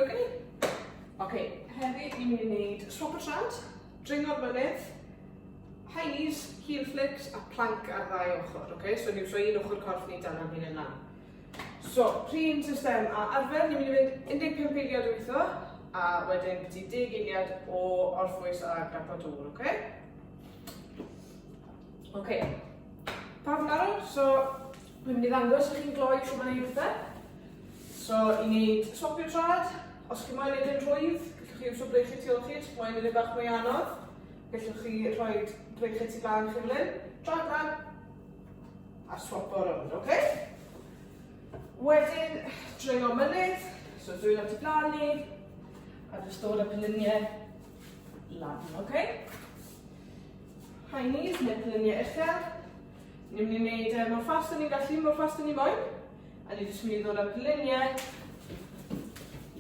Oce? Oce, heddi ni'n mynd i wneud swap o trant, dringo'r mynydd, high knees, heel flicks a plank ar ddau ochr, oce? So ni'n rhoi un ochr corff ni dan am hyn yna. So, rhywun system a arfer, ni'n mynd i fynd 15 eiliad o weithio, a wedyn byti 10 eiliad o orffwys a gapa dŵr, oce? Oce. Pawb yn arw? So, Dwi'n mynd i ddangos i chi'n gloi sut mae'n ei petha. So, i wneud swapio trad, os chi moyn edrych rhwydd, gallwch chi iwsio breichyd tu ôl chi, os chi moyn edrych bach mwy anodd, gallwch chi rhoi breichyd tu flan chi'n lyn, trad flan, a swapo rownd, oce? Okay? Wedyn, dringo mynydd, so dwi'n at y blaen ni, a jyst dod â pelyniau lan, oce? Okay? High knees neu pelyniau uchel, Ni'n mynd i wneud e mor fast ni'n gallu, mor fast ni'n moyn. A ni jyst mynd i ddod â'r gliniau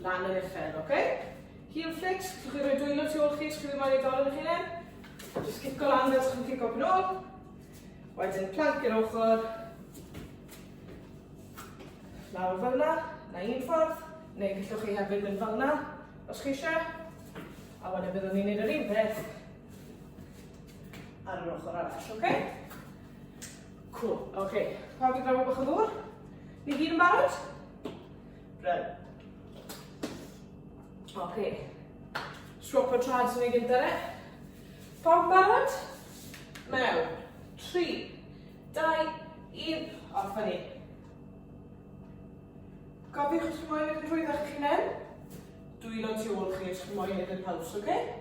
lan yn uchel, oce? Okay? Heel flicks, chi'n chi roi dwylo tu ôl chi, chi'n ddim moyn ei dorf yn hynny. Just cico lan fel chi'n cico yn ôl. Wedyn planc i'r ochr. Lawr fel yna, na un ffordd, neu gallwch chi hefyd mynd fel yna, os chi eisiau. A wedyn byddwn ni'n gwneud yr un peth Ar yr ochr arall, oce? Okay? Cool, oce. Okay. Pawb i draw bach o ddŵr? Ni gyd yn barod? Bryn. Oce. Okay. Swap o trads yn ei gyntaf e. Pawb barod? Mewn. 3, 2, 1, off ni. Gofiwch os chi moyn edrych drwy ddech chi'n Dwylo tu ôl chi os chi moyn edrych paws, oce? Okay?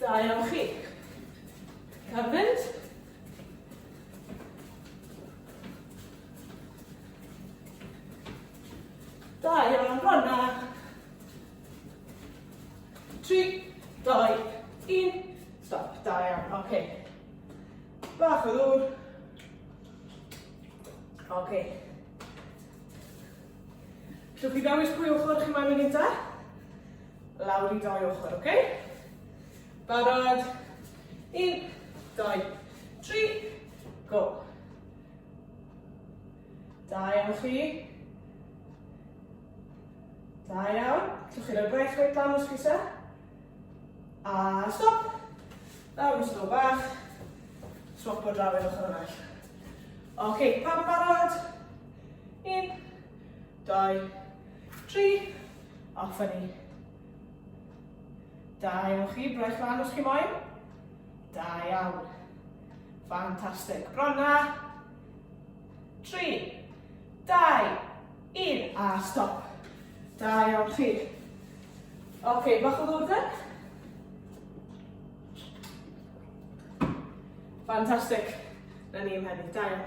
Da iawn chi. Cael mynd. Da iawn, ronna. Tri, doi, un. Stop, da iawn, oce. Okay. Bach o ddŵr. Oce. Okay. Llwch i ddewis pwy ochr chi mae'n mynd i'n da. Lawr i dau ochr, oce? Barod? Un, dau, tri, go. Da iawn chi. Da iawn. Llwch chi'n rhoi braich reit lan os gysa. A stop. Lawr yn stop bach. Swap o draw i'r ochr arall. Oce, okay, pawb barod? Un, Dau, tri, a ffynnu. Da iawn chi, braich lan os chi moyn. Da iawn. Fantastic. Bronna. Tri, dau, un, a stop. Da iawn chi. Oce, okay, bach o ddwrdd yn. Fantastic. Na ni ymheddu. Da iawn.